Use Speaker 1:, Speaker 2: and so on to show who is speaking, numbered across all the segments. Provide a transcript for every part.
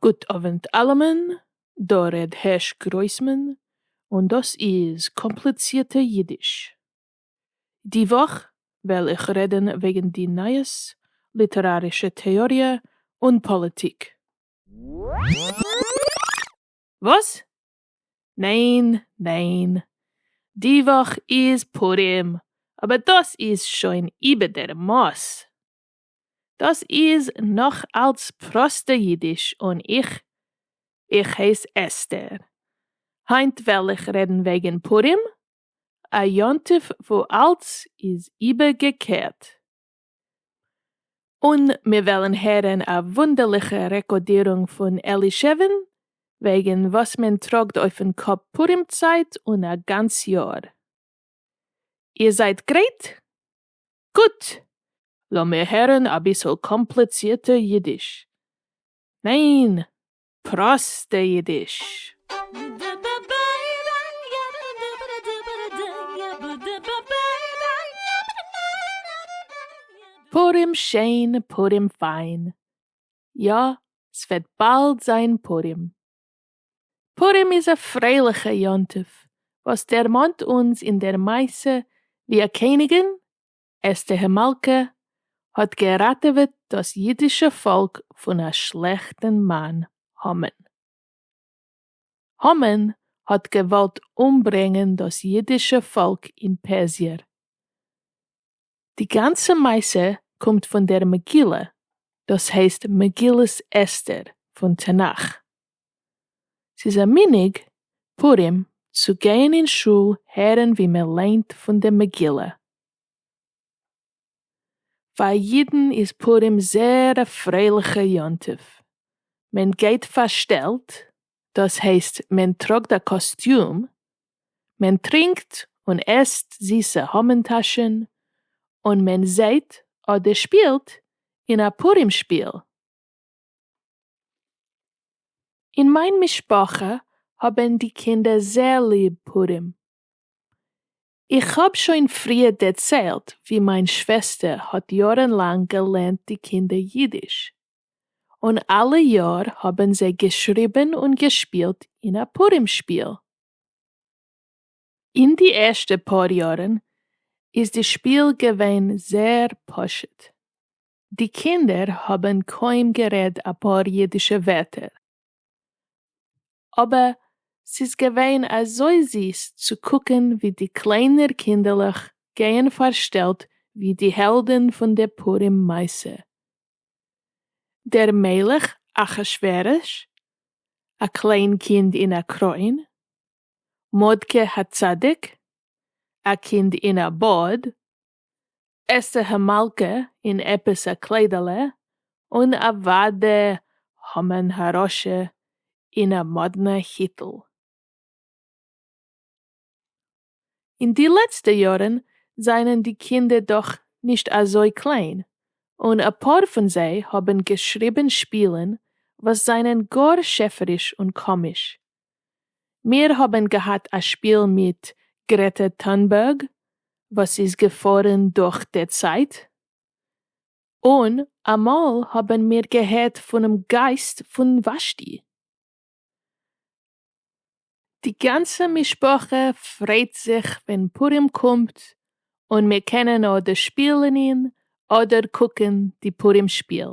Speaker 1: גוט אווענט אלעמען, דא ר' הערש גרויסמאן, און דאס איז קאמפליצירטע אידיש. די וואך וועל איך רעדן וועגן די נייעס, ליטערארישע טעאריע און פאליטיק. וואס? ניין ניין די וואך איז פורים אבער דאס איז שוין איבער דער מאס. דאס איז נאך אלץ פראסטע אידיש און איך איך הייס אסתר. היינט וועל איך רעדן וועגן פורים, א יום טוב וואו אלץ איז איבערגעקערט. און מיר וועלן הערן א וואונדערליכע רעקארדירונג פון אלישעוו'ן וועגן וואס מען טראגט אויפן קאפ פורים צייט און א גאנץ יאר. איר זייט גרייט? גוט! לאמיר הערן אביסל קאמפליצירטע אידיש. ניין! פראסטע אידיש. פורים שיין פורים פיין. יא ס'וועט באלד זיין פורים. פורים איז א פרייליכע יום טוב וואס דערמאנט אונז אין דער מעשה ווי א קעניגען אסתּר מלכּה האָט געראַטעװעט דאָס ייִדישע פֿאָלק פֿון אַ שלעכטן מאַן, המָן. המָן האָט געװאָלט אומברענגען דאָס ייִדישע פֿאָלק אין פּערסיער. די גאַנצע מעשׂה קומט פֿון דער מגילה, דאָס הײסט מגילת אסתּר פֿון תּנך. ס'איז א מנהג פורים צו גיין אין שול הערן ווי מען ליינט פון די מגילה. פאר אידן איז פורים זייער א פרייליכע יום טוב, מען גייט פארשטעלט, דאס הייסט מען טראגט א קאסטיום, מען טרינקט און עסט זיסע המן טאשן, און מען זעהט אדער שפילט אין א פורים שפיל. אין מיין משפחה האבן די קינדער זייער ליב פורים. איך האב שוין פריער דערציילט ווי מיין שוועסטער האט יארן לאנג געלערנט די קינדער אידיש, און אלע יאר האבן זיי געשריבן און געשפילט אין א פורים שפיל. אין די ערשטע פאר יארן איז די שפיל געווען זייער פשוט. די קינדער האבן קוים גערעד אפאר אידישע ווערטער, אבער ס'איז געווען אזוי זיס צו קוקן ווי די קליינער קינדערלעך גייען פארשטעלט ווי די העלדן פון די פורים מעשה. דער מלך אחשורוש, א קליין קינד אין א קרוין, מרדכי הצדיק, א קינד אין א בארד, אסתר המלכה אין עפעס א קליידעלע, און אוואדע המן הרשע אין א מאדנע היטל. אין די לעצטע יארן זענען די קינדער דאך נישט אזוי קליין, און אפאר פון זיי האבן געשריבן שפילן וואס זענען גאר שעפעריש און קאמיש, מיר האבן געהאט א שפיל מיט גרעטע טונבערג וואס איז געפארן דורך די צייט, און אמאל האבן מיר געהערט פונעם גייסט פון וואשטי. די גאנצע משפחה פריידט זיך ווען פורים קומט און מיר קענען אדער שפילן אדער קוקן די פורים שפיל.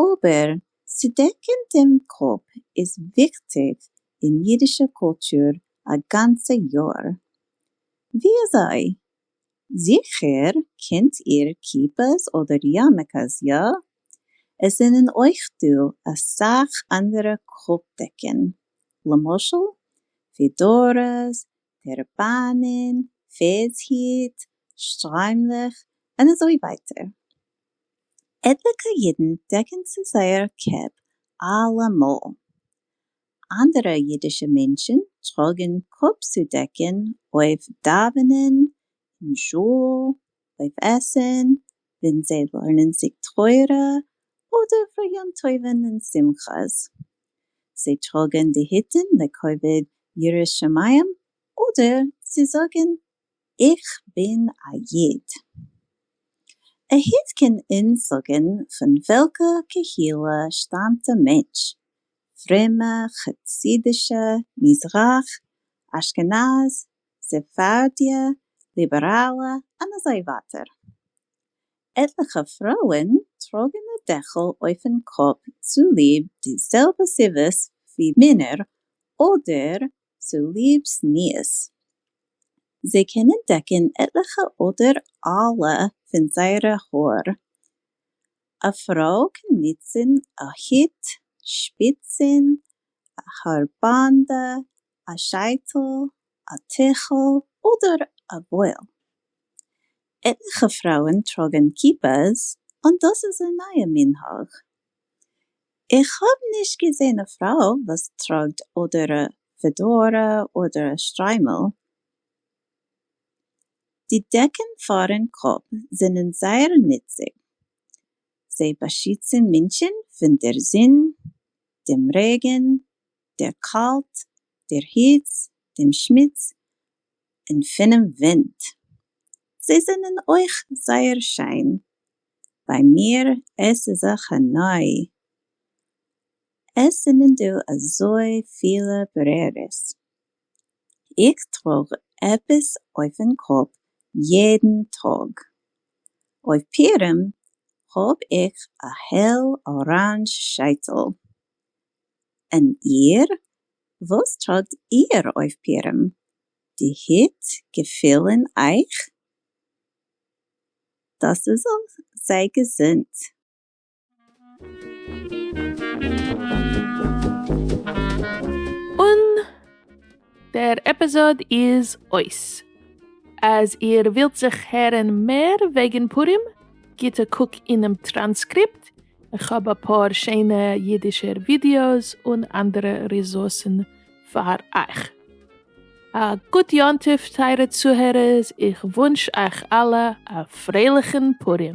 Speaker 2: אבער צו דעקן דעם קאפ איז וויכטיג אין אידישע קולטור א גאנצע יאר. וויאזוי? זיכער קענט איר כיפות אדער יארמעקעס, יא? עס זענען אויך דא אסאך אנדערע קאפ דעקן, למשל פעדאראס, טערבאנען, פערדס היט, שטריימלעך, און אזוי ווייטער. עטליקע אידן דעקן צו זייער קעפ אלעמאל. אנדערע אידישע מענטשן טראגן קאפ צודעקן אויף דאווענען אין שול, אויף עסן, ווען זיי לערנען זיג תורה, אדער פאר יום טובים און שמחות. זיי טראגן די היטן לכבוד יראת שמים אדער צו זאגן איך בין א איד. א איד קען אונז זאגן פון וועלכע קהילה שטאמט די מענטש, פרומע, חסידישע, מזרח, אשכנז, ספרדיה, ליבעראלע, און אזוי ווייטער. עטליכע פרויען טראגן א דעכל אויפן קאפ צוליב די זעלבע סיבות ווי מענער אדער צוליב זנות. זיי קענען דעקן עטליכע אדער אלע פון זייערע האר. א פרוי קען נוצן א הוט, שפיצן, א האר באנדע, א שייטל, א טיכל אדער א וואל. עטליכע פרויען טראגן כיפות און דאס איז א נייע מנהג. איך האב נישט געזען א פרוי וואס טראגט אדער א פעדארא אדער א שטריימל. די דעקן פארן קאפ זענען זייער נוצבאר. זיי באשיצן מענטשן פון דער זון, דעם רעגן, דער קאלט, דער היץ, דעם שמוץ, און פונעם ווינט. זיי זענען אויך זייער שיין ביי מיר עס איז א חני' עס זענען דא אזוי פילע ברירות איך טראג עפעס אויפן קאפ יעדן טאג אויף פירם האב איך א העל אראנדזש שייטל און איר וואס טראגט איר אויף פירם די היט געפילן אייך? דאס איז אויך זייער
Speaker 1: געזונט. און דער עפיזאד איז אויס. אז איר ווילט זיך הערן מער וועגן פורים גיט א קוק אינעם טראנסקריפט, איך האב אפאר שיינע אידישער ווידיאוס און אנדערע ריסורסן פאר אייך. א גוט יום טוב טייערע צוהערערס, איך וואונטש אייך אלע א פרייליכן פורים.